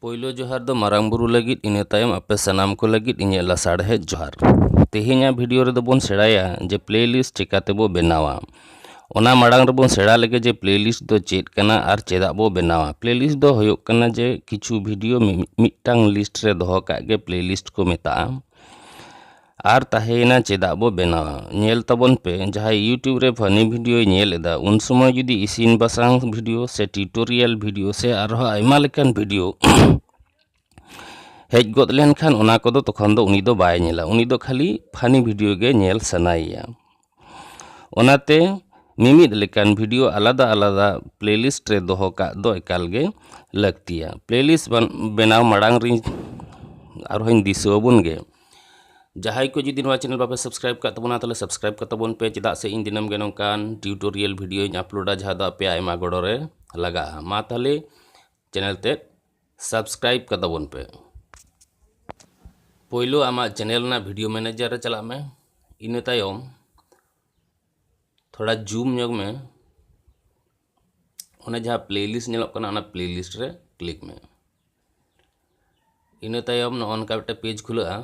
ᱯᱳᱭᱞᱳ ᱡᱚᱦᱟᱨ ᱫᱚ ᱢᱟᱨᱟᱝ ᱵᱩᱨᱩ ᱞᱟᱹᱜᱤᱫ ᱤᱱᱟᱹ ᱛᱟᱭᱚᱢ ᱟᱯᱮ ᱥᱟᱱᱟᱢ ᱠᱚ ᱞᱟᱹᱜᱤᱫ ᱤᱧᱟᱹᱜ ᱞᱟᱥᱟᱲᱦᱮᱫ ᱡᱚᱦᱟᱨ ᱛᱮᱦᱮᱧᱟᱜ ᱵᱷᱤᱰᱤᱭᱳ ᱨᱮᱫᱚ ᱵᱚᱱ ᱥᱮᱬᱟᱭᱟ ᱡᱮ ᱯᱞᱮ ᱞᱤᱥᱴ ᱪᱤᱠᱟᱹᱛᱮ ᱵᱚ ᱵᱮᱱᱟᱣᱟ ᱚᱱᱟ ᱢᱟᱲᱟᱝ ᱨᱮᱵᱚᱱ ᱥᱮᱬᱟ ᱞᱮᱜᱮ ᱡᱮ ᱯᱞᱮ ᱞᱤᱥᱴ ᱫᱚ ᱪᱮᱫ ᱠᱟᱱᱟ ᱟᱨ ᱪᱮᱫᱟᱜ ᱵᱚ ᱵᱮᱱᱟᱣᱟ ᱯᱞᱮ ᱞᱤᱥᱴ ᱫᱚ ᱦᱩᱭᱩᱜ ᱠᱟᱱᱟ ᱡᱮ ᱠᱤᱪᱷᱩ ᱵᱷᱤᱰᱤᱭᱳ ᱢᱤᱫᱴᱟᱝ ᱞᱤᱥᱴ ᱨᱮ ᱫᱚᱦᱚ ᱠᱟᱜ ᱜᱮ ᱯᱞᱮ ᱞᱤᱥᱴ ᱠᱚ ᱢᱮᱛᱟᱜᱼᱟ ᱟᱨ ᱛᱟᱦᱮᱸᱭᱮᱱᱟ ᱪᱮᱫᱟᱜ ᱵᱚ ᱵᱮᱱᱟᱣᱟ ᱧᱮᱞ ᱛᱟᱵᱚᱱ ᱯᱮ ᱡᱟᱦᱟᱸᱭ ᱭᱩᱴᱩᱵᱽ ᱨᱮ ᱯᱷᱟᱱᱤ ᱵᱷᱤᱰᱤᱭᱳᱭ ᱧᱮᱞ ᱮᱫᱟ ᱩᱱ ᱥᱚᱢᱚᱭ ᱡᱩᱫᱤ ᱤᱥᱤᱱ ᱵᱟᱥᱟᱝ ᱵᱷᱤᱰᱤᱭᱳ ᱥᱮ ᱴᱤᱭᱩᱴᱳᱨᱤᱭᱟᱞ ᱵᱷᱤᱰᱤᱭᱳ ᱥᱮ ᱟᱨᱦᱚᱸ ᱟᱭᱢᱟ ᱞᱮᱠᱟᱱ ᱵᱷᱤᱰᱤᱭᱳ ᱦᱮᱡ ᱜᱚᱫ ᱞᱮᱱᱠᱷᱟᱱ ᱚᱱᱟ ᱠᱚᱫᱚ ᱛᱚᱠᱷᱚᱱ ᱫᱚ ᱩᱱᱤ ᱫᱚ ᱵᱟᱭ ᱧᱮᱞᱟ ᱩᱱᱤ ᱫᱚ ᱠᱷᱟᱹᱞᱤ ᱯᱷᱟᱱᱤ ᱵᱷᱤᱰᱤᱭᱳ ᱜᱮ ᱧᱮᱞ ᱥᱟᱱᱟᱭᱮᱭᱟ ᱚᱱᱟᱛᱮ ᱢᱤᱢᱤᱫ ᱞᱮᱠᱟᱱ ᱵᱷᱤᱰᱤᱭᱳ ᱟᱞᱟᱫᱟ ᱟᱞᱟᱫᱟ ᱯᱞᱮᱞᱤᱥᱴ ᱨᱮ ᱫᱚᱦᱚ ᱠᱟᱜ ᱫᱚ ᱮᱠᱟᱞ ᱜᱮ ᱞᱟᱹᱠᱛᱤᱭᱟ ᱯᱞᱮᱞᱤᱥᱴ ᱵᱮᱱᱟᱣ ᱢᱟᱲᱟᱝ ᱨᱤᱧ ᱟᱨᱦᱚᱸᱧ ᱫᱤᱥᱟᱹ ᱟᱵᱚᱱ ᱜᱮ ᱡᱟᱦᱟᱸᱭ ᱠᱚ ᱡᱩᱫᱤ ᱱᱚᱣᱟ ᱪᱮᱱᱮᱞ ᱵᱟᱯᱮ ᱥᱟᱵᱥᱠᱨᱟᱭᱤᱵ ᱠᱟᱜ ᱛᱟᱵᱚᱱᱟ ᱛᱟᱦᱚᱞᱮ ᱥᱟᱵᱥᱠᱨᱟᱭᱤᱵ ᱠᱟᱜ ᱛᱟᱵᱚᱱ ᱯᱮ ᱪᱮᱫᱟᱜ ᱥᱮ ᱤᱧ ᱫᱤᱱᱟᱹᱢ ᱜᱮ ᱱᱚᱝᱠᱟᱱ ᱴᱤᱭᱩᱴᱳᱨᱤᱭᱟᱞ ᱵᱷᱤᱰᱤᱭᱳᱧ ᱟᱯᱞᱳᱰᱟ ᱡᱟᱦᱟᱸ ᱫᱚ ᱟᱯᱮᱭᱟᱜ ᱟᱭᱢᱟ ᱜᱚᱲᱚ ᱨᱮ ᱞᱟᱜᱟᱜᱼᱟ ᱢᱟ ᱛᱟᱦᱚᱞᱮ ᱪᱮᱱᱮᱞ ᱛᱮᱫ ᱥᱟᱵᱥᱠᱨᱟᱭᱤᱵ ᱠᱟᱛᱟ ᱵᱚᱱ ᱯᱮ ᱯᱳᱭᱞᱳ ᱟᱢᱟᱜ ᱪᱮᱱᱮᱞ ᱨᱮᱱᱟᱜ ᱵᱷᱤᱰᱤᱭᱳ ᱢᱮᱱᱮᱡᱟᱨ ᱨᱮ ᱪᱟᱞᱟᱜ ᱢᱮ ᱤᱱᱟᱹ ᱛᱟᱭᱚᱢ ᱛᱷᱚᱲᱟ ᱡᱩᱢ ᱧᱚᱜ ᱢᱮ ᱚᱱᱟ ᱡᱟᱦᱟᱸ ᱯᱞᱮᱞᱤᱥᱴ ᱧᱮᱞᱚᱜ ᱠᱟᱱᱟ ᱚᱱᱟ ᱯᱞᱮᱞᱤᱥᱴ ᱨᱮ ᱠᱞᱤᱠ ᱢᱮ ᱤᱱᱟᱹ ᱛᱟᱭᱚᱢ ᱱᱚᱜᱼᱚ ᱱᱚᱝᱠᱟ ᱢᱤᱫᱴᱮᱱ ᱯᱮᱡᱽ ᱠᱷᱩᱞᱟᱹᱜᱼᱟ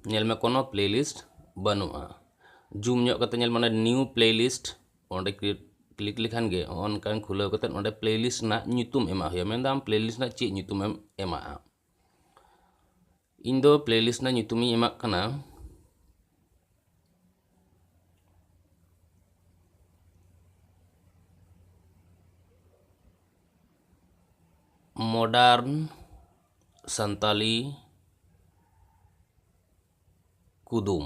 ᱧᱮᱞ ᱢᱮ ᱠᱳᱱᱳ ᱯᱞᱮᱞᱤᱥᱴ ᱵᱟᱹᱱᱩᱜᱼᱟ ᱡᱩᱢ ᱧᱚᱜ ᱠᱟᱛᱮ ᱧᱮᱞ ᱢᱮ ᱚᱱᱟ ᱱᱤᱭᱩ ᱯᱞᱮᱞᱤᱥᱴ ᱚᱸᱰᱮ ᱠᱨᱤᱭᱮᱴ ᱠᱞᱤᱠ ᱞᱮᱠᱷᱟᱱ ᱜᱮ ᱱᱚᱜᱼᱚ ᱱᱚᱝᱠᱟᱱ ᱠᱷᱩᱞᱟᱹᱣ ᱠᱟᱛᱮ ᱚᱸᱰᱮ ᱯᱞᱮ ᱞᱤᱥᱴ ᱨᱮᱱᱟᱜ ᱧᱩᱛᱩᱢ ᱮᱢᱟᱜ ᱦᱩᱭᱩᱜᱼᱟ ᱢᱮᱱᱫᱟ ᱟᱢ ᱯᱞᱮ ᱞᱤᱥᱴ ᱨᱮᱱᱟᱜ ᱪᱮᱫ ᱧᱩᱛᱩᱢᱮᱢ ᱮᱢᱟᱜᱼᱟ ᱤᱧ ᱫᱚ ᱯᱞᱮ ᱞᱤᱥᱴ ᱨᱮᱱᱟᱜ ᱧᱩᱛᱩᱢᱤᱧ ᱮᱢᱟᱜ ᱠᱟᱱᱟ ᱢᱚᱰᱟᱨᱱ ᱥᱟᱱᱛᱟᱞᱤ ᱠᱩᱫᱩᱢ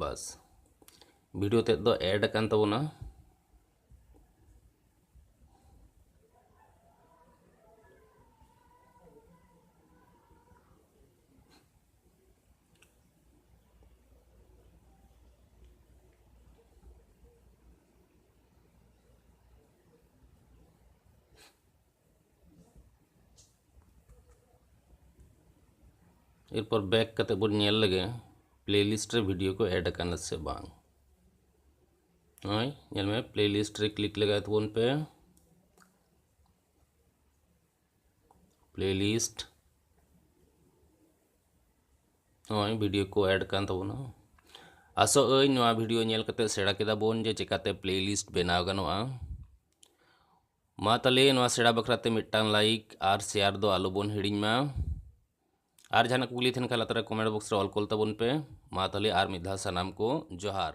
ᱵᱟᱥ ᱵᱷᱤᱰᱤᱭᱳ ᱛᱮᱫ ᱫᱚ ᱮᱰ ᱟᱠᱟᱱ ᱛᱟᱵᱚᱱᱟ ᱮᱨᱯᱚᱨ ᱵᱮᱠ ᱠᱟᱛᱮ ᱵᱚᱱ ᱧᱮᱞ ᱞᱮᱜᱮ ᱯᱞᱮᱞᱤᱥᱴ ᱨᱮ ᱵᱷᱤᱰᱤᱭᱳ ᱠᱚ ᱮᱰ ᱟᱠᱟᱱᱟ ᱥᱮ ᱵᱟᱝ ᱱᱚᱜᱼᱚᱭ ᱧᱮᱞ ᱢᱮ ᱯᱞᱮᱞᱤᱥᱴ ᱨᱮ ᱠᱞᱤᱠ ᱞᱮᱜᱟᱭ ᱛᱟᱵᱚᱱ ᱯᱮ ᱯᱞᱮᱞᱤᱥᱴ ᱱᱚᱜᱼᱚᱭ ᱵᱷᱤᱰᱤᱭᱳ ᱠᱚ ᱮᱰ ᱠᱟᱱ ᱛᱟᱵᱚᱱᱟ ᱟᱥᱚᱜ ᱟᱹᱧ ᱱᱚᱣᱟ ᱵᱷᱤᱰᱤᱭᱳ ᱧᱮᱞ ᱠᱟᱛᱮ ᱥᱮᱬᱟ ᱠᱮᱫᱟ ᱵᱚᱱ ᱡᱮ ᱪᱮᱠᱟᱛᱮ ᱯᱞᱮᱞᱤᱥᱴ ᱵᱮᱱᱟᱣ ᱜᱟᱱᱚᱜᱼᱟ ᱢᱟ ᱛᱟᱦᱚᱞᱮ ᱱᱚᱣᱟ ᱥᱮᱬᱟ ᱵᱟᱠᱷᱨᱟ ᱛᱮ ᱢᱤᱫᱴᱟᱝ ᱞᱟᱭᱤᱠ ᱟᱨ ᱥᱮᱭᱟᱨ ᱫᱚ ᱟᱞᱚ ᱵᱚᱱ ᱦᱤᱲᱤᱧ ᱢᱟ ᱟᱨ ᱡᱟᱦᱟᱱᱟᱜ ᱠᱩᱠᱞᱤ ᱛᱟᱦᱮᱱ ᱠᱷᱟᱱ ᱞᱟᱛᱟᱨ ᱨᱮ ᱠᱚᱢᱮᱱᱴ ᱵᱚᱠᱥ ᱨᱮ ᱚᱞ ᱠᱚᱞ ᱛᱟᱵᱚᱱ ᱯᱮ ᱢᱟ ᱛᱟᱦᱚᱞᱮ ᱟᱨ ᱢᱤᱫ ᱫᱷᱟᱣ ᱥᱟᱱᱟᱢ ᱠᱚ ᱡᱚᱦᱟᱨ